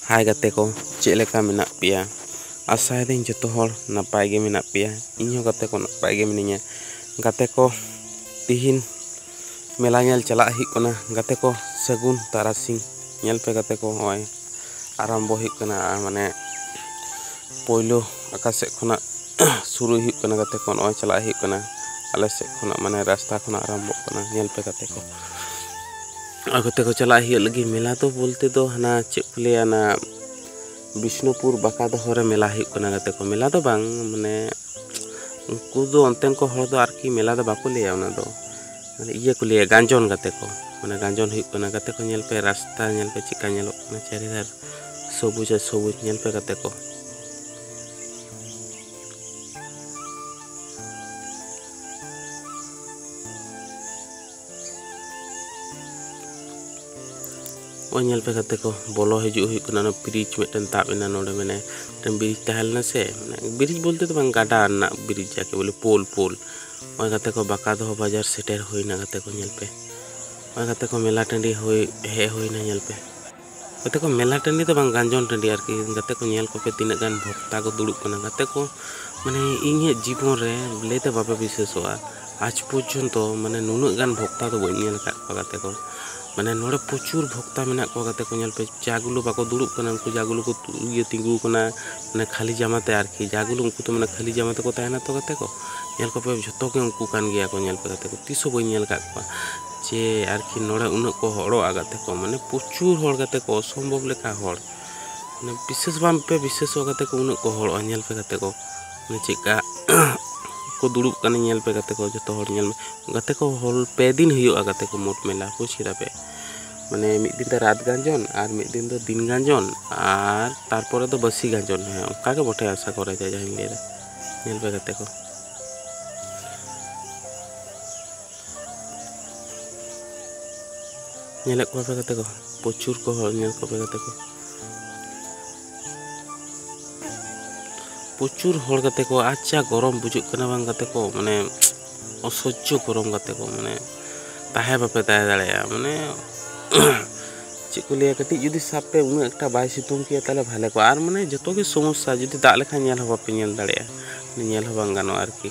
ᱦᱟᱭ ᱜᱟᱛᱮ ᱠᱚ ᱪᱮᱫ ᱞᱮᱠᱟ ᱢᱮᱱᱟᱜ ᱯᱮᱭᱟ ᱟᱥᱟᱭᱮᱫᱟᱹᱧ ᱡᱚᱛᱚ ᱦᱚᱲ ᱱᱟᱯᱟᱭ ᱜᱮ ᱢᱮᱱᱟᱜ ᱯᱮᱭᱟ ᱤᱧ ᱦᱚᱸ ᱜᱟᱛᱮ ᱠᱚ ᱱᱟᱯᱟᱭ ᱜᱮ ᱢᱤᱱᱟᱹᱧᱟ ᱜᱟᱛᱮ ᱠᱚ ᱛᱤᱦᱤᱧ ᱢᱮᱞᱟ ᱧᱮᱞ ᱪᱟᱞᱟᱜ ᱦᱩᱭᱩᱜ ᱠᱟᱱᱟ ᱜᱟᱛᱮ ᱠᱚ ᱥᱟᱹᱜᱩᱱ ᱛᱟᱨᱟᱥᱤᱧ ᱧᱮᱞ ᱯᱮ ᱜᱟᱛᱮ ᱠᱚ ᱱᱚᱜᱼᱚᱭ ᱟᱨᱟᱢᱵᱚ ᱦᱩᱭᱩᱜ ᱠᱟᱱᱟ ᱢᱟᱱᱮ ᱯᱳᱭᱞᱳ ᱟᱠᱟ ᱥᱮᱫ ᱠᱷᱚᱱᱟᱜ ᱥᱩᱨᱩᱭ ᱦᱩᱭᱩᱜ ᱠᱟᱱᱟ ᱜᱟᱛᱮ ᱠᱚ ᱱᱚᱜᱼᱚᱭ ᱪᱟᱞᱟᱜ ᱦᱩᱭᱩᱜ ᱠᱟᱱᱟ ᱟᱞᱮ ᱥᱮᱫ ᱠᱷᱚᱱᱟᱜ ᱢᱟᱱᱮ ᱨᱟᱥᱛᱟ ᱠᱷᱚᱱᱟᱜ ᱟᱨᱟᱢᱵᱚᱜ ᱠᱟᱱᱟ ᱧᱮᱞ ᱯᱮ ᱜᱟᱛᱮ ᱠᱚ ᱟᱨ ᱜᱟᱛᱮ ᱠᱚ ᱪᱟᱞᱟᱜ ᱦᱩᱭᱩᱜ ᱞᱟᱹᱜᱤᱫ ᱢᱮᱞᱟ ᱫᱚ ᱵᱚᱞᱛᱮ ᱫᱚ ᱦᱟᱱᱟ ᱪᱮᱫ ᱠᱚ ᱞᱟᱹᱭᱟ ᱚᱱᱟ ᱵᱤᱥᱱᱩᱯᱩᱨ ᱵᱟᱠᱟ ᱫᱚᱦᱚ ᱨᱮ ᱢᱮᱞᱟ ᱦᱩᱭᱩᱜ ᱠᱟᱱᱟ ᱜᱟᱛᱮ ᱠᱚ ᱢᱮᱞᱟ ᱫᱚ ᱵᱟᱝ ᱢᱟᱱᱮ ᱩᱱᱠᱩ ᱫᱚ ᱚᱱᱛᱮᱱ ᱠᱚ ᱦᱚᱲ ᱫᱚ ᱟᱨᱠᱤ ᱢᱮᱞᱟ ᱫᱚ ᱵᱟᱠᱚ ᱞᱟᱹᱭᱟ ᱚᱱᱟ ᱫᱚ ᱢᱟᱱᱮ ᱤᱭᱟᱹ ᱠᱚ ᱞᱟᱹᱭᱟ ᱜᱟᱸᱡᱚᱱ ᱜᱟᱛᱮ ᱠᱚ ᱢᱟᱱᱮ ᱜᱟᱸᱡᱚᱱ ᱦᱩᱭᱩᱜ ᱠᱟᱱᱟ ᱜᱟᱛᱮ ᱠᱚ ᱧᱮᱞ ᱯᱮ ᱨᱟᱥᱛᱟ ᱧᱮᱞ ᱯᱮ ᱪᱮᱫᱠᱟ ᱧᱮᱞᱚᱜ ᱠᱟᱱᱟ ᱪᱟᱹᱨᱤᱫᱷᱟᱨ ᱥᱚᱵᱩᱡ ᱟᱨ ᱥᱚᱵᱩᱡ ᱧᱮᱞ ᱯᱮ ᱜᱟᱛᱮ ᱠᱚ ᱱᱚᱜᱼᱚᱭ ᱧᱮᱞ ᱯᱮ ᱜᱟᱛᱮ ᱠᱚ ᱵᱚᱞᱚ ᱦᱤᱡᱩᱜ ᱦᱩᱭᱩᱜ ᱠᱟᱱᱟ ᱚᱱᱟ ᱵᱨᱤᱡᱽ ᱢᱤᱫᱴᱮᱱ ᱛᱟᱵ ᱮᱱᱟ ᱱᱚᱰᱮ ᱢᱟᱱᱮ ᱢᱤᱫᱴᱮᱱ ᱵᱨᱤᱡᱽ ᱛᱟᱦᱮᱸ ᱞᱮᱱᱟ ᱥᱮ ᱢᱟᱱᱮ ᱵᱨᱤᱡᱽ ᱵᱚᱞᱛᱮ ᱫᱚ ᱵᱟᱝ ᱜᱟᱰᱟ ᱨᱮᱱᱟᱜ ᱵᱨᱤᱡᱽ ᱡᱟᱠᱮ ᱵᱚᱞᱮ ᱯᱳᱞ ᱯᱳᱞ ᱱᱚᱜᱼᱚᱭ ᱜᱟᱛᱮ ᱠᱚ ᱵᱟᱠᱟ ᱫᱚᱦᱚ ᱵᱟᱡᱟᱨ ᱥᱮᱴᱮᱨ ᱦᱩᱭᱱᱟ ᱜᱟᱛᱮ ᱠᱚ ᱧᱮᱞ ᱯᱮ ᱱᱚᱜᱼᱚᱭ ᱜᱟᱛᱮ ᱠᱚ ᱢᱮᱞᱟ ᱴᱟᱺᱰᱤ ᱦᱩᱭ ᱦᱮᱡ ᱦᱩᱭᱱᱟ ᱧᱮᱞ ᱯᱮ ᱜᱟᱛᱮ ᱠᱚ ᱢᱮᱞᱟ ᱴᱟᱺᱰᱤ ᱫᱚ ᱵᱟᱝ ᱜᱟᱱᱡᱚᱱ ᱴᱟᱺᱰᱤ ᱟᱨᱠᱤ ᱜᱟᱛᱮ ᱠᱚ ᱧᱮᱞ ᱠᱚᱯᱮ ᱛᱤᱱᱟᱹᱜ ᱜᱟᱱ ᱵᱷᱚᱠᱛᱟ ᱠᱚ ᱫᱩᱲᱩᱵ ᱠᱟᱱᱟ ᱜᱟᱛᱮ ᱠᱚ ᱢᱟᱱᱮ ᱤᱧᱟᱹᱜ ᱡᱤᱵᱚᱱ ᱨᱮ ᱞᱟᱹᱭᱛᱮ ᱵᱟᱯᱮ ᱵᱤᱥᱥᱟᱹᱥᱚᱜᱼᱟ ᱟᱡᱽ ᱯᱚᱨᱡᱚᱱᱛᱚ ᱢᱟᱱᱮ ᱱᱩᱱᱟᱹᱜ ᱜᱟᱱ ᱵᱷᱚᱠᱛᱟ ᱫᱚ ᱵᱟᱹᱧ ᱧᱮᱞ ᱟᱠᱟᱫ ᱠᱚᱣᱟ ᱜᱟᱛᱮ ᱠᱚ ᱢᱟᱱᱮ ᱱᱚᱰᱮ ᱯᱨᱚᱪᱩᱨ ᱵᱷᱚᱠᱛᱟ ᱢᱮᱱᱟᱜ ᱠᱚᱣᱟ ᱜᱟᱛᱮ ᱠᱚ ᱧᱮᱞ ᱯᱮ ᱡᱟ ᱜᱩᱞᱳ ᱵᱟᱠᱚ ᱫᱩᱲᱩᱵ ᱠᱟᱱᱟ ᱩᱱᱠᱩ ᱡᱟ ᱜᱩᱞᱳ ᱠᱚ ᱤᱭᱟᱹ ᱛᱤᱸᱜᱩ ᱟᱠᱟᱱᱟ ᱢᱟᱱᱮ ᱠᱷᱟᱹᱞᱤ ᱡᱟᱢᱟ ᱛᱮ ᱟᱨᱠᱤ ᱡᱟ ᱜᱩᱞᱳ ᱩᱱᱠᱩ ᱫᱚ ᱢᱟᱱᱮ ᱠᱷᱟᱹᱞᱤ ᱡᱟᱢᱟ ᱛᱮᱠᱚ ᱛᱟᱦᱮᱱᱟ ᱛᱚ ᱜᱟᱛᱮ ᱠᱚ ᱧᱮᱞ ᱠᱚᱯᱮ ᱡᱷᱚᱛᱚ ᱜᱮ ᱩᱱᱠᱩ ᱠᱟᱱ ᱜᱮᱭᱟ ᱠᱚ ᱧᱮᱞ ᱯᱮ ᱜᱟᱛᱮ ᱠᱚ ᱛᱤᱥ ᱦᱚᱸ ᱵᱟᱹᱧ ᱧᱮᱞ ᱟᱠᱟᱫ ᱠᱚᱣᱟ ᱪᱮ ᱟᱨᱠᱤ ᱱᱚᱰᱮ ᱩᱱᱟᱹᱜ ᱠᱚ ᱦᱚᱲᱚᱜ ᱟᱠᱟᱫ ᱛᱮᱠᱚ ᱢᱟᱱᱮ ᱯᱨᱚᱪᱩᱨ ᱦᱚᱲ ᱠᱟᱛᱮ ᱠᱚ ᱚᱥᱚᱢᱵᱷᱚᱵ ᱞᱮᱠᱟ ᱦᱚᱲ ᱢᱟᱱᱮ ᱵᱤᱥᱮᱥ ᱵᱟᱝ ᱯᱮ ᱵᱤᱥᱮᱥᱚᱜ ᱠᱟᱛᱮ ᱠᱚ ᱩᱱᱟᱹᱜ ᱠᱚ ᱦᱚᱲᱚᱜᱼᱟ ᱧᱮᱞ ᱯᱮ ᱠᱟᱛᱮ ᱠᱚ ᱢᱟᱱᱮ ᱪᱮᱫᱠᱟ ᱠᱚ ᱫᱩᱲᱩᱵ ᱠᱟᱱᱟ ᱧᱮᱞ ᱯᱮ ᱠᱟᱛᱮ ᱠᱚ ᱡᱚᱛᱚ ᱦᱚᱲ ᱧᱮᱞ ᱢᱮ ᱠᱟᱛᱮ ᱠᱚ ᱦᱚᱞ ᱯᱮ ᱫᱤᱱ ᱦᱩᱭᱩᱜᱼᱟ ᱠᱟᱛᱮ ᱠᱚ ᱢᱳᱴ ᱢᱮᱞᱟ ᱵᱩᱡᱽ ᱠᱮᱫᱟ ᱯᱮ ᱢᱟᱱᱮ ᱢᱤᱫ ᱫᱤᱱ ᱫᱚ ᱨᱟᱛ ᱜᱟᱡᱚᱱ ᱟᱨ ᱢᱤᱫ ᱫᱤᱱ ᱫᱚ ᱫᱤᱱ ᱜᱟᱡᱚᱱ ᱟᱨ ᱛᱟᱨᱯᱚᱨᱮ ᱫᱚ ᱵᱟᱹᱥᱤ ᱜᱟᱡᱚᱱ ᱦᱮᱸ ᱚᱱᱠᱟ ᱜᱮ ᱵᱚᱴᱷᱮ ᱟᱥᱟ ᱠᱚᱨᱮ ᱡᱟ ᱡᱟᱦᱟᱸᱧ ᱞᱟᱹᱭᱫᱟ ᱧᱮᱞ ᱯᱮ ᱠᱟᱛᱮ ᱠᱚ ᱧᱮᱞᱮᱫ ᱠᱚᱣᱟ ᱯᱮ ᱜᱟᱛᱮ ᱠᱚ ᱯᱨᱚᱪᱩᱨ ᱠᱚ ᱦᱚᱲ ᱧᱮᱞ ᱠᱚᱯᱮ ᱜᱟᱛᱮ ᱠᱚ ᱯᱨᱚᱪᱩᱨ ᱦᱚᱲ ᱜᱟᱛᱮ ᱠᱚ ᱟᱪᱪᱷᱟ ᱜᱚᱨᱚᱢ ᱵᱩᱡᱩᱜ ᱠᱟᱱᱟ ᱵᱟᱝ ᱜᱟᱛᱮ ᱠᱚ ᱢᱟᱱᱮ ᱚᱥᱚᱡᱽᱡᱚ ᱜᱚᱨᱚᱢ ᱜᱟᱛᱮ ᱠᱚ ᱢᱟᱱᱮ ᱛᱟᱦᱮᱸ ᱵᱟᱯᱮ ᱛᱟᱦᱮᱸ ᱫᱟᱲᱮᱭᱟᱜᱼᱟ ᱢᱟᱱᱮ ᱪᱮᱫ ᱠᱚ ᱞᱟᱹᱭᱟ ᱠᱟᱹᱴᱤᱡ ᱡᱩᱫᱤ ᱥᱟᱵ ᱯᱮ ᱩᱱᱟᱹᱜ ᱮᱠᱴᱟ ᱵᱟᱭ ᱥᱤᱛᱩᱝ ᱠᱮᱭᱟ ᱛᱟᱦᱚᱞᱮ ᱵᱷᱟᱞᱮ ᱠᱚᱜᱼᱟ ᱟᱨ ᱢᱟᱱᱮ ᱡᱚᱛᱚ ᱜᱮ ᱥᱚᱢᱚᱥᱥᱟ ᱡᱩᱫᱤ ᱫᱟᱜ ᱞᱮᱠᱷᱟᱱ ᱧᱮᱞ ᱦᱚᱸ ᱵᱟᱯᱮ ᱧᱮᱞ ᱫᱟᱲᱮᱭᱟᱜᱼᱟ ᱧᱮᱞ ᱦᱚᱸ ᱵᱟᱝ ᱜᱟᱱᱚᱜᱼᱟ ᱟᱨᱠᱤ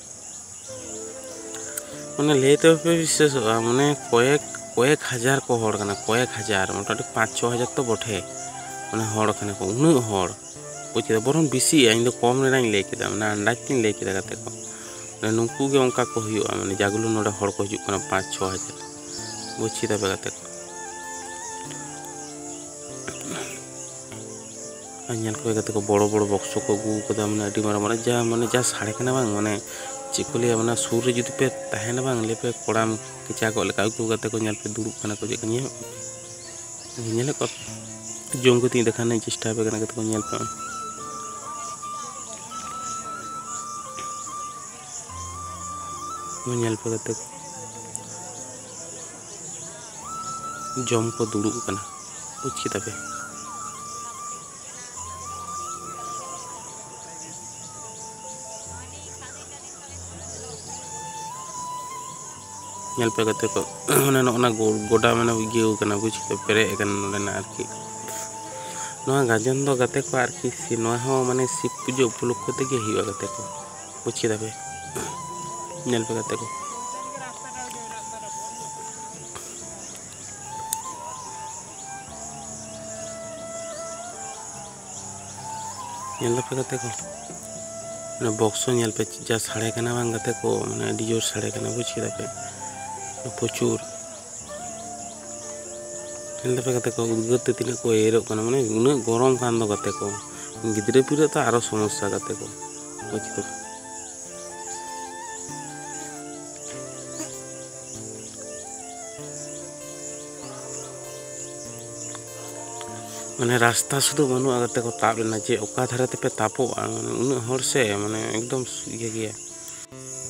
ᱢᱟᱱᱮ ᱞᱟᱹᱭ ᱛᱮ ᱵᱟᱯᱮ ᱵᱤᱥᱥᱟᱹᱥᱚᱜᱼᱟ ᱢᱟᱱᱮ ᱠᱚᱭᱮᱠ ᱠᱚᱭᱮᱠ ᱦᱟᱡᱟᱨ ᱠᱚ ᱦᱚᱲ ᱠᱟᱱᱟ ᱠᱚᱭᱮᱠ ᱦᱟᱡᱟᱨ ᱢᱚᱴᱟᱢᱩᱴᱤ ᱯᱟᱸᱪ ᱪᱷᱚ ᱦᱟᱡᱟᱨ ᱛᱚ ᱵᱚᱴᱷᱮ ᱢᱟᱱᱮ ᱦᱚᱲ ᱠᱟᱱᱟ ᱠᱚ ᱩᱱᱟᱹᱜ ᱦᱚᱲ ᱵᱩᱡᱽ ᱠᱮᱫᱟ ᱵᱚᱨᱚᱝ ᱵᱮᱥᱤᱜᱼᱟ ᱤᱧ ᱫᱚ ᱠᱚᱢ ᱨᱮᱱᱟᱜ ᱤᱧ ᱞᱟᱹᱭ ᱠᱮᱫᱟ ᱢᱟᱱᱮ ᱟᱱᱫᱟᱡᱽ ᱛᱤᱧ ᱞᱟᱹᱭ ᱠᱮᱫᱟ ᱜᱟᱛᱮ ᱠᱚ ᱢᱟᱱᱮ ᱱᱩᱠᱩ ᱜᱮ ᱚᱱᱠᱟ ᱠᱚ ᱦᱩᱭᱩᱜᱼᱟ ᱢᱟᱱᱮ ᱡᱟᱜᱩᱞᱩ ᱱᱚᱰᱮ ᱦᱚᱲ ᱠᱚ ᱦᱤᱡᱩᱜ ᱠᱟᱱᱟ ᱯᱟᱸᱪ ᱪᱷᱚ ᱦᱟᱡᱟᱨ ᱵᱩᱡᱽ ᱠᱮᱫᱟ ᱯᱮ ᱜᱟᱛᱮ ᱠᱚ ᱟᱨ ᱧᱮᱞ ᱠᱚ ᱠᱟᱛᱮ ᱠᱚ ᱵᱚᱲᱚ ᱵᱚᱲᱚ ᱵᱚᱠᱥᱚ ᱠᱚ ᱟᱹᱜᱩ ᱟᱠᱟᱫᱟ ᱢᱟᱱᱮ ᱟᱹᱰᱤ ᱢᱟᱨᱟᱝ ᱢᱟᱱᱮ ᱡᱟ ᱢᱟᱱᱮ ᱡᱟ ᱥᱟᱲᱮ ᱠᱟᱱᱟ ᱵᱟᱝ ᱢᱟᱱᱮ ᱪᱮᱫ ᱠᱚ ᱞᱟᱹᱭᱟ ᱚᱱᱟ ᱥᱩᱨ ᱨᱮ ᱡᱩᱫᱤ ᱯᱮ ᱛᱟᱦᱮᱱᱟ ᱵᱟᱝ ᱞᱟᱹᱭ ᱯᱮ ᱠᱚᱲᱟᱢ ᱠᱮᱪᱟ ᱠᱚᱜ ᱞᱮᱠᱟ ᱟᱹᱜᱩ ᱠᱟᱛᱮ ᱠᱚ ᱧᱮᱞ ᱯᱮ ᱫᱩᱲᱩᱵ ᱠᱟᱱᱟ ᱠᱚ ᱪᱮᱫ ᱠᱚ ᱧᱮᱞ ᱧᱮᱞ ᱠᱚ ᱡᱚᱢ ᱠᱟᱛᱮ ᱫᱮᱠᱷᱟᱱ ᱪᱮᱥᱴᱟ ᱯᱮ ᱠᱟᱱᱟ ᱠᱟᱛᱮ ᱠᱚ ᱧᱮᱞ ᱯᱮ ᱧᱮᱞ ᱯᱮ ᱠᱟᱛᱮ ᱡᱚᱢ ᱠᱚ ᱫᱩᱲᱩᱵ ᱟᱠᱟᱱᱟ ᱵᱩᱡᱽ ᱠᱮᱫᱟ ᱯᱮ ᱧᱮᱞ ᱯᱮ ᱜᱟᱛᱮ ᱠᱚ ᱢᱟᱱᱮ ᱱᱚᱜᱼᱚᱱᱟ ᱜᱚᱰᱟ ᱢᱟᱱᱮ ᱤᱭᱟᱹ ᱟᱠᱟᱱᱟ ᱵᱩᱡᱽ ᱠᱮᱫᱟ ᱯᱮᱨᱮᱡ ᱟᱠᱟᱱᱟ ᱱᱚᱰᱮᱱᱟᱜ ᱟᱨᱠᱤ ᱱᱚᱣᱟ ᱜᱟᱡᱚᱱ ᱫᱚ ᱜᱟᱛᱮ ᱠᱚ ᱟᱨᱠᱤ ᱱᱚᱣᱟ ᱦᱚᱸ ᱢᱟᱱᱮ ᱥᱤᱵ ᱯᱩᱡᱟᱹ ᱩᱯᱚᱞᱚᱠᱠᱷᱚ ᱛᱮᱜᱮ ᱦᱩᱭᱩᱜᱼᱟ ᱜᱟᱛᱮ ᱠᱚ ᱵᱩᱡᱽ ᱠᱮᱫᱟ ᱯᱮ ᱧᱮᱞ ᱯᱮ ᱜᱟᱛᱮ ᱠᱚ ᱧᱮᱞ ᱫᱟᱯᱮ ᱜᱟᱛᱮ ᱠᱚ ᱚᱱᱟ ᱵᱚᱠᱥ ᱦᱚᱸ ᱧᱮᱞ ᱯᱮ ᱡᱟ ᱥᱟᱰᱮ ᱠᱟᱱᱟ ᱵᱟᱝ ᱜᱟᱛᱮ ᱠᱚ ᱢᱟᱱᱮ ᱟᱹᱰᱤ ᱡᱳᱨ ᱥᱟᱰᱮ ᱠᱟᱱᱟ ᱵᱩᱡᱽ ᱠᱮᱫᱟ ᱯᱮ ᱯᱨᱚᱪᱩᱨ ᱧᱮᱞ ᱫᱟᱯᱮ ᱜᱟᱛᱮ ᱠᱚ ᱩᱫᱽᱜᱟᱹᱨ ᱛᱮ ᱛᱤᱱᱟᱹᱜ ᱠᱚ ᱮᱭᱮᱨᱚᱜ ᱠᱟᱱᱟ ᱢᱟᱱᱮ ᱩᱱᱟᱹᱜ ᱜᱚᱨᱚᱢ ᱠᱟᱱ ᱫᱚ ᱜᱟᱛᱮ ᱠᱚ ᱜᱤᱫᱽᱨᱟᱹ ᱯᱤᱫᱽᱨᱟᱹ ᱛᱚ ᱟᱨᱚ ᱥᱚᱢᱚᱥᱥᱟ ᱜᱟᱛᱮ ᱠᱚ ᱢᱟᱱᱮ ᱨᱟᱥᱛᱟ ᱥᱩᱫᱷᱩ ᱵᱟᱹᱱᱩᱜᱼᱟ ᱠᱟᱛᱮ ᱠᱚ ᱛᱟᱵ ᱞᱮᱱᱟ ᱡᱮ ᱚᱠᱟ ᱫᱷᱟᱨᱮ ᱛᱮᱯᱮ ᱛᱟᱯᱚᱜᱼᱟ ᱢᱟᱱᱮ ᱩᱱᱟᱹᱜ ᱦᱚᱲ ᱥᱮ ᱢᱟᱱᱮ ᱮᱠᱫᱚᱢ ᱤᱭᱟᱹ ᱜᱮᱭᱟ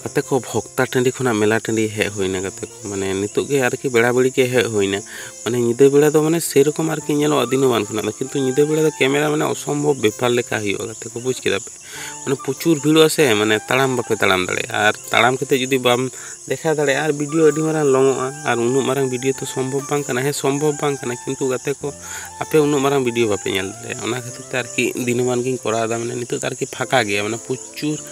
ᱜᱟᱛᱮ ᱠᱚ ᱵᱷᱚᱠᱛᱟ ᱴᱟᱺᱰᱤ ᱠᱷᱚᱱᱟᱜ ᱢᱮᱞᱟ ᱴᱟᱺᱰᱤ ᱦᱮᱡ ᱦᱩᱭᱱᱟ ᱜᱟᱛᱮ ᱠᱚ ᱢᱟᱱᱮ ᱱᱤᱛᱚᱜ ᱜᱮ ᱟᱨᱠᱤ ᱵᱮᱲᱟ ᱵᱮᱲᱤ ᱜᱮ ᱦᱮᱡ ᱦᱩᱭᱱᱟ ᱢᱟᱱᱮ ᱧᱤᱫᱟᱹ ᱵᱮᱲᱟ ᱫᱚ ᱢᱟᱱᱮ ᱥᱮᱨᱚᱠᱚᱢ ᱟᱨᱠᱤ ᱧᱮᱞᱚᱜᱼᱟ ᱫᱤᱱᱟᱹᱢᱟᱱ ᱠᱷᱚᱱᱟᱜ ᱫᱚ ᱠᱤᱱᱛᱩ ᱧᱤᱫᱟᱹ ᱵᱮᱲᱟ ᱫᱚ ᱠᱮᱢᱮᱨᱟ ᱢᱟᱱᱮ ᱚᱥᱚᱢᱵᱷᱚᱵ ᱵᱮᱯᱟᱨ ᱞᱮᱠᱟ ᱦᱩᱭᱩᱜᱼᱟ ᱜᱟᱛᱮ ᱠᱚ ᱵᱩᱡᱽ ᱠᱮᱫᱟ ᱯᱮ ᱢᱟᱱᱮ ᱯᱨᱚᱪᱩᱨ ᱵᱷᱤᱲᱚᱜᱼᱟ ᱥᱮ ᱢᱟᱱᱮ ᱛᱟᱲᱟᱢ ᱵᱟᱯᱮ ᱛᱟᱲᱟᱢ ᱫᱟᱲᱮᱭᱟᱜᱼᱟ ᱟᱨ ᱛᱟᱲᱟᱢ ᱠᱟᱛᱮ ᱡᱩᱫᱤ ᱵᱟᱢ ᱫᱮᱠᱷᱟᱣ ᱫᱟᱲᱮᱭᱟᱜᱼᱟ ᱟᱨ ᱵᱷᱤᱰᱤᱭᱳ ᱟᱹᱰᱤ ᱢᱟᱨᱟᱝ ᱞᱚᱝᱚᱜᱼᱟ ᱟᱨ ᱩᱱᱟᱹᱜ ᱢᱟᱨᱟᱝ ᱵᱷᱤᱰᱤᱭᱳ ᱛᱚ ᱥᱚᱢᱵᱷᱚᱵ ᱵᱟᱝ ᱠᱟᱱᱟ ᱦᱮᱸ ᱥᱚᱢᱵᱷᱚᱵ ᱵᱟᱝ ᱠᱟᱱᱟ ᱠᱤᱱᱛᱩ ᱜᱟᱛᱮ ᱠᱚ ᱟᱯᱮ ᱩᱱᱟᱹᱜ ᱢᱟᱨᱟᱝ ᱵᱷᱤᱰᱤᱭᱳ ᱵᱟᱯᱮ ᱧᱮᱞ ᱫᱟᱲᱮᱭᱟᱜᱼᱟ ᱚᱱᱟ ᱠᱷᱟᱹᱛᱤᱨ ᱛᱮ ᱟᱨᱠᱤ ᱫᱤᱱᱟᱹᱢᱟᱱ ᱜᱤᱧ ᱠᱚᱨᱟᱣ ᱮᱫᱟ ᱢᱟᱱᱮ ᱱᱤᱛᱚᱜ ᱫᱚ ᱟᱨᱠᱤ ᱯᱷᱟᱸᱠᱟ ᱜᱮᱭᱟ ᱢᱟᱱᱮ ᱯᱨᱚᱪᱩᱨ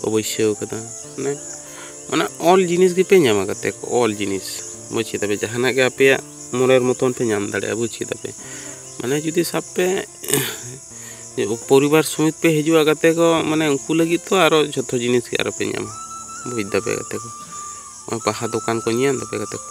ᱠᱚ ᱵᱟᱹᱭᱥᱟᱹᱣ ᱠᱟᱫᱟ ᱢᱟᱱᱮ ᱚᱱᱟ ᱚᱞ ᱡᱤᱱᱤᱥ ᱜᱮᱯᱮ ᱧᱟᱢᱟ ᱜᱟᱛᱮ ᱠᱚ ᱚᱞ ᱡᱤᱱᱤᱥ ᱵᱩᱡᱽ ᱠᱮᱫᱟ ᱯᱮ ᱡᱟᱦᱟᱱᱟᱜ ᱜᱮ ᱟᱯᱮᱭᱟᱜ ᱢᱚᱱᱮᱨ ᱢᱚᱛᱚᱱ ᱯᱮ ᱧᱟᱢ ᱫᱟᱲᱮᱭᱟᱜᱼᱟ ᱵᱩᱡᱽ ᱠᱮᱫᱟ ᱯᱮ ᱢᱟᱱᱮ ᱡᱩᱫᱤ ᱥᱟᱵ ᱯᱮ ᱯᱚᱨᱤᱵᱟᱨ ᱥᱚᱢᱮᱛ ᱯᱮ ᱦᱤᱡᱩᱜᱼᱟ ᱜᱟᱛᱮ ᱠᱚ ᱢᱟᱱᱮ ᱩᱱᱠᱩ ᱞᱟᱹᱜᱤᱫ ᱛᱚ ᱟᱨᱚ ᱡᱷᱚᱛᱚ ᱡᱤᱱᱤᱥ ᱜᱮ ᱟᱨᱚ ᱯᱮ ᱧᱟᱢᱟ ᱵᱩᱡᱽ ᱫᱟᱯᱮ ᱜᱟᱛᱮ ᱠᱚ ᱵᱟᱦᱟ ᱫᱚᱠᱟᱱ ᱠᱚ ᱧᱮᱞ ᱫᱟᱯᱮ ᱜᱟᱛᱮ ᱠᱚ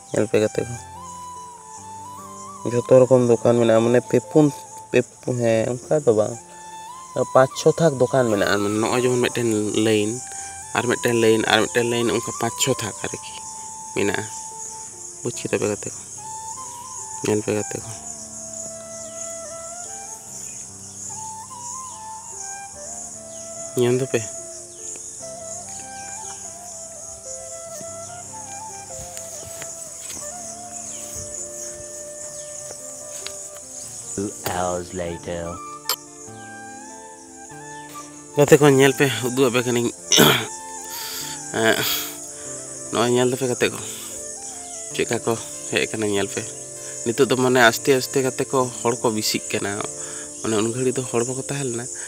ᱧᱮᱞ ᱯᱮ ᱜᱟᱛᱮ ᱠᱚ ᱡᱷᱚᱛᱚ ᱨᱚᱠᱚᱢ ᱫᱚᱠᱟᱱ ᱢᱮᱱᱟᱜᱼᱟ ᱢᱟᱱᱮ ᱯᱮ ᱯᱩᱱ ᱯᱮ ᱦᱮᱸ ᱚᱱᱠᱟ ᱫᱚ ᱵᱟᱝ ᱯᱟᱸᱪ ᱪᱷᱚ ᱛᱷᱟᱠ ᱫᱚᱠᱟᱱ ᱢᱮᱱᱟᱜᱼᱟ ᱢᱟᱱᱮ ᱱᱚᱜᱼᱚᱭ ᱡᱮᱢᱚᱱ ᱢᱤᱫᱴᱮᱱ ᱞᱟᱹᱭᱤᱱ ᱟᱨ ᱢᱤᱫᱴᱮᱱ ᱞᱟᱹᱭᱤᱱ ᱟᱨ ᱢᱤᱫᱴᱮᱱ ᱞᱟᱹᱭᱤᱱ ᱚᱱᱠᱟ ᱯᱟᱸᱪ ᱪᱷᱚ ᱛᱷᱟᱠ ᱟᱨᱠᱤ ᱢᱮᱱᱟᱜᱼᱟ ᱵᱩᱡᱽ ᱠᱮᱫᱟ ᱯᱮ ᱜᱟᱛᱮ ᱠᱚ ᱧᱮᱞ ᱯᱮ ᱜᱟᱛᱮ ᱠᱚ ᱧᱮᱞ ᱫᱟᱯᱮ hours later. ᱜᱟᱛᱮ ᱠᱚ ᱧᱮᱞ ᱯᱮ ᱩᱫᱩᱜ ᱟᱯᱮ ᱠᱟᱹᱱᱟᱹᱧ ᱱᱚᱜᱼᱚᱭ ᱧᱮᱞ ᱫᱟᱯᱮ ᱜᱟᱛᱮ ᱠᱚ ᱪᱮᱫᱠᱟ ᱠᱚ ᱦᱮᱡ ᱠᱟᱱᱟ ᱧᱮᱞ ᱯᱮ ᱱᱤᱛᱚᱜ ᱫᱚ ᱢᱟᱱᱮ ᱟᱥᱛᱮ ᱟᱥᱛᱮ ᱠᱟᱛᱮ ᱠᱚ ᱦᱚᱲ ᱠᱚ ᱵᱤᱥᱤᱜ ᱠᱟᱱᱟ ᱢᱟᱱᱮ ᱩᱱ ᱜᱷᱟᱹᱲᱤᱡ ᱫᱚ ᱦᱚᱲ ᱵᱟᱠᱚ ᱛᱟᱦᱮᱸ ᱞᱮᱱᱟ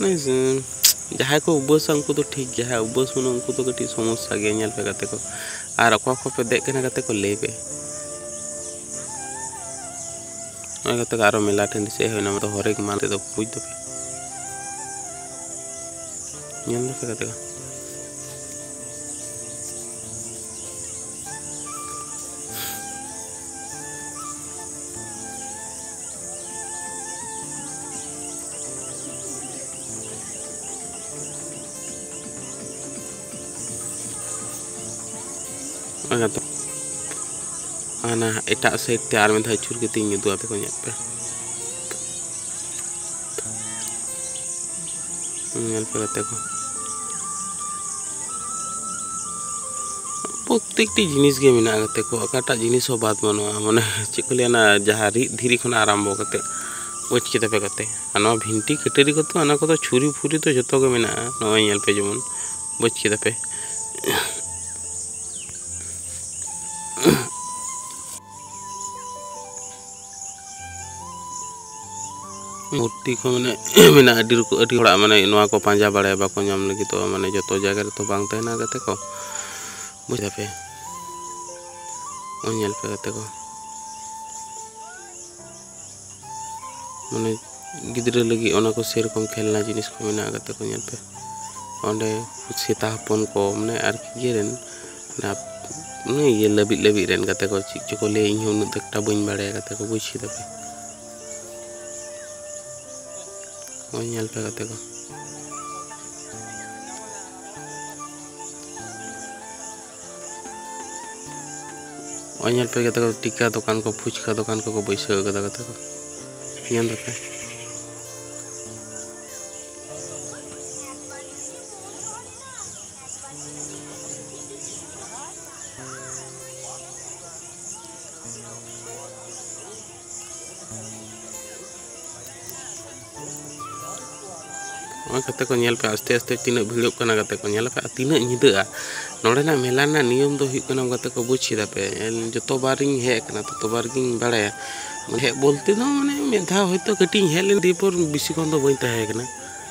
ᱢᱟᱱᱮ ᱡᱟᱦᱟᱸᱭ ᱠᱚ ᱩᱵᱟᱹᱥᱟ ᱩᱱᱠᱩ ᱫᱚ ᱴᱷᱤᱠ ᱜᱮᱭᱟ ᱡᱟᱦᱟᱸᱭ ᱩᱵᱟᱹᱥ ᱵᱟᱹᱱᱩᱜ ᱩᱱᱠᱩ ᱫᱚ ᱠᱟᱹᱴᱤᱡ ᱥᱚᱢᱚᱥᱥᱟ ᱜᱮᱭᱟ ᱧᱮᱞ ᱯᱮ ᱜᱟᱛᱮ ᱠᱚ ᱟᱨ ᱚᱠᱟ ᱠᱷᱚᱱ ᱯᱮ ᱫᱮᱡ ᱠᱟᱱᱟ ᱜᱟᱛᱮ ᱠᱚ ᱞᱟᱹᱭ ᱯᱮ ᱱᱚᱜᱼᱚᱭ ᱜᱟᱛᱮ ᱠᱚ ᱟᱨᱚ ᱢᱮᱞᱟ ᱴᱟᱺᱰᱤ ᱥᱮᱫ ᱦᱩᱭᱱᱟ ᱢᱟᱱᱮ ᱦᱚᱨᱮᱠ ᱢᱟᱞ ᱛᱮᱫᱚ ᱵᱩᱡᱽ ᱫᱟᱯᱮ ᱧᱮᱞ ᱫᱟᱯᱮ ᱜᱟᱛᱮ ᱠᱚ ᱚᱱᱟ ᱫᱚ ᱚᱱᱟ ᱮᱴᱟᱜ ᱥᱟᱭᱤᱰ ᱛᱮ ᱟᱨ ᱢᱤᱫ ᱫᱷᱟᱣ ᱟᱹᱪᱩᱨ ᱠᱟᱛᱮᱧ ᱩᱫᱩᱜ ᱟᱯᱮ ᱠᱚ ᱧᱮᱞ ᱯᱮ ᱧᱮᱞ ᱯᱮ ᱜᱟᱛᱮ ᱠᱚ ᱯᱨᱚᱛᱮᱠᱴᱤ ᱡᱤᱱᱤᱥ ᱜᱮ ᱢᱮᱱᱟᱜᱼᱟ ᱜᱟᱛᱮ ᱠᱚ ᱚᱠᱟᱴᱟᱜ ᱡᱤᱱᱤᱥ ᱦᱚᱸ ᱵᱟᱫ ᱵᱟᱹᱱᱩᱜᱼᱟ ᱢᱟᱱᱮ ᱪᱮᱫ ᱠᱚ ᱞᱟᱹᱭᱟ ᱚᱱᱟ ᱡᱟᱦᱟᱸ ᱨᱤᱫ ᱫᱷᱤᱨᱤ ᱠᱷᱚᱱᱟᱜ ᱟᱨᱟᱢᱵᱚ ᱠᱟᱛᱮ ᱵᱩᱡᱽ ᱠᱮᱫᱟ ᱯᱮ ᱜᱟᱛᱮ ᱟᱨ ᱱᱚᱣᱟ ᱵᱷᱤᱱᱴᱤ ᱠᱟᱹᱴᱟᱹᱨᱤ ᱠᱚᱫᱚ ᱚᱱᱟ ᱠᱚᱫᱚ ᱪᱷᱩᱨᱤ ᱯᱷᱩᱨᱤ ᱫᱚ ᱡᱚᱛᱚ ᱜᱮ ᱢᱮᱱᱟᱜᱼᱟ ᱱᱚᱜᱼᱚᱭ ᱧᱮᱞ ᱯᱮ ᱡᱮᱢᱚᱱ ᱵᱩᱡᱽ ᱠᱮᱫᱟ ᱯᱮ ᱢᱩᱨᱛᱤ ᱠᱚ ᱢᱟᱱᱮ ᱢᱮᱱᱟᱜᱼᱟ ᱟᱹᱰᱤ ᱨᱚᱠᱚᱢ ᱟᱹᱰᱤ ᱦᱚᱲᱟᱜ ᱢᱟᱱᱮ ᱱᱚᱣᱟ ᱠᱚ ᱯᱟᱸᱡᱟ ᱵᱟᱲᱟᱭᱟ ᱵᱟᱠᱚ ᱧᱟᱢ ᱞᱟᱹᱜᱤᱫᱚᱜᱼᱟ ᱢᱟᱱᱮ ᱡᱚᱛᱚ ᱡᱟᱭᱜᱟ ᱨᱮᱛᱚ ᱵᱟᱝ ᱛᱟᱦᱮᱱᱟ ᱜᱟᱛᱮ ᱠᱚ ᱵᱩᱡᱽ ᱫᱟᱯᱮ ᱧᱮᱞ ᱯᱮ ᱜᱟᱛᱮ ᱠᱚ ᱢᱟᱱᱮ ᱜᱤᱫᱽᱨᱟᱹ ᱞᱟᱹᱜᱤᱫ ᱚᱱᱟ ᱠᱚ ᱥᱮᱨᱚᱠᱚᱢ ᱠᱷᱮᱞᱱᱟ ᱡᱤᱱᱤᱥ ᱠᱚ ᱢᱮᱱᱟᱜᱼᱟ ᱜᱟᱛᱮ ᱠᱚ ᱧᱮᱞ ᱯᱮ ᱚᱸᱰᱮ ᱥᱮᱛᱟ ᱦᱚᱯᱚᱱ ᱠᱚ ᱢᱟᱱᱮ ᱟᱨᱠᱤ ᱤᱭᱟᱹ ᱨᱮᱱ ᱚᱱᱮ ᱤᱭᱟᱹ ᱞᱟᱹᱵᱤᱫ ᱞᱟᱹᱵᱤᱫ ᱨᱮᱱ ᱜᱟᱛᱮ ᱠᱚ ᱪᱮᱫ ᱪᱚᱠᱚ ᱞᱟᱹᱭᱟ ᱤᱧ ᱦᱚᱸ ᱩᱱᱟᱹᱜ ᱮᱠᱴᱟ ᱵᱟᱹᱧ ᱵᱟᱲᱟᱭᱟ ᱜᱟᱛᱮ ᱠᱚ ᱵᱩᱡᱽ ᱠᱮᱫᱟ ᱯᱮ ᱱᱚᱜᱼᱚᱭ ᱧᱮᱞ ᱯᱮ ᱜᱟᱛᱮ ᱠᱚ ᱱᱚᱜᱼᱚᱭ ᱧᱮᱞ ᱯᱮ ᱜᱟᱛᱮ ᱠᱚ ᱴᱤᱠᱟ ᱫᱚᱠᱟᱱ ᱠᱚ ᱯᱷᱩᱪᱠᱟ ᱫᱚᱠᱟᱱ ᱠᱚᱠᱚ ᱵᱟᱹᱭᱥᱟᱹᱣ ᱠᱟᱫᱟ ᱜᱟᱛᱮ ᱠᱚ ᱧᱮᱞ ᱫᱟᱯᱮ ᱱᱚᱜᱼᱚᱭ ᱠᱟᱛᱮ ᱠᱚ ᱧᱮᱞ ᱯᱮ ᱟᱥᱛᱮ ᱟᱥᱛᱮ ᱛᱤᱱᱟᱹᱜ ᱵᱷᱤᱲᱚᱜ ᱠᱟᱱᱟ ᱠᱟᱛᱮ ᱠᱚ ᱧᱮᱞ ᱟᱠᱟᱫᱼᱟ ᱛᱤᱱᱟᱹᱜ ᱧᱤᱫᱟᱹᱜᱼᱟ ᱱᱚᱰᱮᱱᱟᱜ ᱢᱮᱞᱟ ᱨᱮᱱᱟᱜ ᱱᱤᱭᱚᱢ ᱫᱚ ᱦᱩᱭᱩᱜ ᱠᱟᱱᱟ ᱠᱟᱛᱮ ᱠᱚ ᱵᱩᱡᱽ ᱠᱮᱫᱟ ᱯᱮ ᱡᱚᱛᱚ ᱵᱟᱨᱤᱧ ᱦᱮᱡ ᱟᱠᱟᱱᱟ ᱛᱚᱛᱚ ᱵᱟᱨ ᱜᱤᱧ ᱵᱟᱲᱟᱭᱟ ᱦᱮᱡ ᱵᱚᱞᱛᱮ ᱫᱚ ᱢᱟᱱᱮ ᱢᱤᱫ ᱫᱷᱟᱣ ᱦᱚᱭᱛᱳ ᱠᱟᱹᱴᱤᱡ ᱤᱧ ᱦᱮᱡ ᱞᱮᱱᱟ ᱫᱤᱭᱮᱯᱚᱨ ᱵᱮᱥᱤ ᱠᱷᱚᱱ ᱫᱚ ᱵᱟᱹᱧ ᱛᱟᱦᱮᱸ ᱠᱟᱱᱟ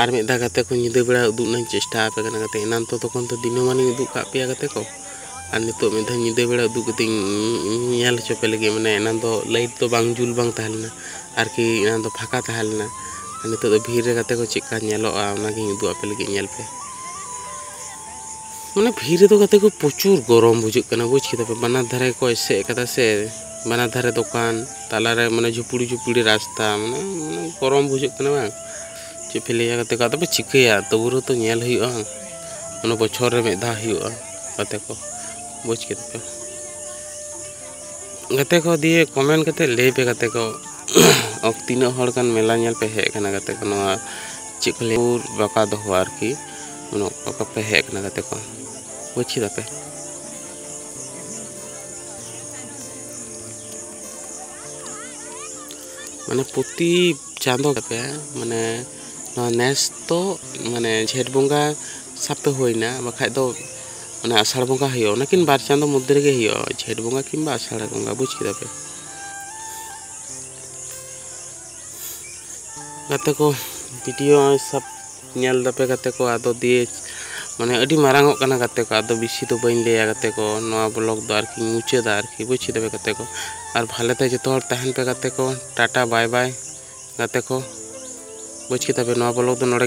ᱟᱨ ᱢᱤᱫ ᱫᱷᱟᱣ ᱜᱟᱛᱮ ᱠᱚ ᱧᱤᱫᱟᱹ ᱵᱮᱲᱟ ᱩᱫᱩᱜ ᱨᱮᱱᱟᱜ ᱪᱮᱥᱴᱟ ᱟᱯᱮ ᱠᱟᱱᱟ ᱜᱟᱛᱮ ᱮᱱᱟᱱ ᱛᱚ ᱛᱚᱠᱷᱚᱱ ᱛᱚ ᱫᱤᱱᱟᱹᱢᱟᱱᱤᱧ ᱩᱫᱩᱜ ᱠᱟᱜ ᱯᱮᱭᱟ ᱜᱟᱛᱮ ᱠᱚ ᱟᱨ ᱱᱤᱛᱚᱜ ᱢᱤᱫ ᱫᱷᱟᱣ ᱧᱤᱫᱟᱹ ᱵᱮᱲᱟ ᱩᱫᱩᱜ ᱠᱟᱛᱮ ᱧᱮᱞ ᱦᱚᱪᱚ ᱯᱮ ᱞᱟᱹᱜᱤᱫ ᱢᱟᱱᱮ ᱮᱱᱟᱱ ᱫᱚ ᱞᱟᱭᱤᱴ ᱫᱚ ᱵᱟᱝ ᱡᱩᱞ ᱵᱟᱝ ᱛᱟᱦᱮᱸ ᱞᱮᱱᱟ ᱟᱨᱠᱤ ᱮᱱᱟᱱ ᱫᱚ ᱯᱷᱟᱸᱠᱟ ᱛᱟᱦᱮᱸ ᱞᱮᱱᱟ ᱟᱨ ᱱᱤᱛᱚᱜ ᱫᱚ ᱵᱷᱤᱲ ᱨᱮ ᱜᱟᱛᱮ ᱠᱚ ᱪᱮᱫᱠᱟ ᱧᱮᱞᱚᱜᱼᱟ ᱚᱱᱟᱜᱤᱧ ᱩᱫᱩᱜ ᱟᱯᱮ ᱞᱟᱹᱜᱤᱫ ᱧᱮᱞ ᱯᱮ ᱢᱟᱱᱮ ᱵᱷᱤᱲ ᱨᱮᱫᱚ ᱜᱟᱛᱮ ᱠᱚ ᱯᱨᱚᱪᱩᱨ ᱜᱚᱨᱚᱢ ᱵᱩᱡᱷᱟᱹᱜ ᱠᱟᱱᱟ ᱵᱩᱡᱽ ᱠᱮᱫᱟ ᱯᱮ ᱵᱟᱱᱟᱨ ᱫᱷᱟᱨᱮ ᱠᱚ ᱮᱥᱮᱫ ᱠᱟᱫᱟ ᱥᱮ ᱵᱟᱱᱟᱨ ᱫᱷᱟᱨᱮ ᱫᱚᱠᱟᱱ ᱛᱟᱞᱟᱨᱮ ᱢᱟᱱᱮ ᱡᱷᱩᱯᱲᱤ ᱡᱷᱩᱯᱲᱤ ᱨᱟᱥᱛᱟ ᱢᱟᱱᱮ ᱜᱚᱨᱚᱢ ᱵᱩᱡᱷᱟᱹᱜ ᱠᱟᱱᱟ ᱵᱟᱝ ᱪᱮᱫ ᱯᱮ ᱞᱟᱹᱭᱟ ᱜᱟᱛᱮ ᱠᱚ ᱟᱫᱚ ᱯᱮ ᱪᱤᱠᱟᱹᱭᱟ ᱛᱚᱵᱩ ᱨᱮᱦᱚᱸ ᱛᱚ ᱧᱮᱞ ᱦᱩᱭᱩᱜᱼᱟ ᱚᱱᱟ ᱵᱚᱪᱷᱚᱨ ᱨᱮ ᱢᱤᱫ ᱫᱷᱟᱣ ᱦᱩᱭᱩᱜᱼᱟ ᱜᱟᱛᱮ ᱠᱚ ᱵᱩᱡᱽ ᱠᱮᱫᱟ ᱯᱮ ᱜᱟᱛᱮ ᱠᱚ ᱫᱤᱭᱮ ᱠᱚᱢᱮᱱᱴ ᱠᱟᱛᱮ ᱞᱟᱹᱭ ᱯᱮ ᱜᱟᱛᱮ ᱠᱚ ᱚᱠ ᱛᱤᱱᱟᱹᱜ ᱦᱚᱲ ᱜᱟᱱ ᱢᱮᱞᱟ ᱧᱮᱞ ᱯᱮ ᱦᱮᱡ ᱟᱠᱟᱱᱟ ᱜᱟᱛᱮ ᱠᱚ ᱱᱚᱣᱟ ᱪᱮᱫ ᱠᱚ ᱞᱟᱹᱭᱟ ᱵᱟᱠᱟ ᱫᱚᱦᱚ ᱟᱨᱠᱤ ᱩᱱᱟᱹᱜ ᱚᱠᱟ ᱯᱮ ᱦᱮᱡ ᱟᱠᱟᱱᱟ ᱜᱟᱛᱮ ᱠᱚ ᱵᱩᱡᱽ ᱠᱮᱫᱟ ᱯᱮ ᱢᱟᱱᱮ ᱯᱨᱚᱛᱤ ᱪᱟᱸᱫᱚ ᱜᱮᱯᱮ ᱢᱟᱱᱮ ᱱᱚᱣᱟ ᱱᱮᱥ ᱫᱚ ᱢᱟᱱᱮ ᱡᱷᱮᱸᱴ ᱵᱚᱸᱜᱟ ᱥᱟᱵᱛᱮ ᱦᱩᱭᱱᱟ ᱵᱟᱠᱷᱟᱡ ᱫᱚ ᱚᱱᱟ ᱟᱥᱟᱲ ᱵᱚᱸᱜᱟ ᱦᱩᱭᱩᱜᱼᱟ ᱚᱱᱟ ᱠᱤᱱ ᱵᱟᱨ ᱪᱟᱸᱫᱚ ᱢᱚᱫᱽᱫᱷᱮ ᱨᱮᱜᱮ ᱦᱩᱭᱩᱜᱼᱟ ᱡᱷᱮᱸᱴ ᱵᱚᱸᱜᱟ ᱠᱤᱝᱵᱟ ᱟᱥᱟᱲ ᱵᱚᱸᱜᱟ ᱵᱩᱡᱽ ᱠᱮᱫᱟ ᱯᱮ ᱜᱟᱛᱮ ᱠᱚ ᱵᱷᱤᱰᱤᱭᱳ ᱥᱟᱵ ᱧᱮᱞ ᱫᱟᱯᱮ ᱜᱟᱛᱮ ᱠᱚ ᱟᱫᱚ ᱫᱤᱭᱮ ᱢᱟᱱᱮ ᱟᱹᱰᱤ ᱢᱟᱨᱟᱝ ᱚᱜ ᱠᱟᱱᱟ ᱜᱟᱛᱮ ᱠᱚ ᱟᱫᱚ ᱵᱮᱥᱤ ᱫᱚ ᱵᱟᱹᱧ ᱞᱟᱹᱭᱟ ᱜᱟᱛᱮ ᱠᱚ ᱱᱚᱣᱟ ᱵᱞᱚᱜ ᱫᱚ ᱟᱨᱠᱤ ᱢᱩᱪᱟᱹᱫᱟ ᱟᱨᱠᱤ ᱵᱩᱡᱽ ᱠᱮᱫᱟ ᱯᱮ ᱜᱟᱛᱮ ᱠᱚ ᱟᱨ ᱵᱷᱟᱞᱮ ᱛᱮ ᱡᱚᱛᱚ ᱦᱚᱲ ᱛᱟᱦᱮᱱ ᱯᱮ ᱜᱟᱛᱮ ᱠᱚ ᱴᱟᱴᱟ ᱵᱟᱭ ᱵᱟᱭ ᱜᱟᱛᱮ ᱠᱚ ᱵᱩᱡᱽ ᱠᱮᱫᱟ ᱯᱮ ᱱᱚᱣᱟ ᱵᱞᱚᱜ ᱫᱚ ᱱᱚᱰᱮ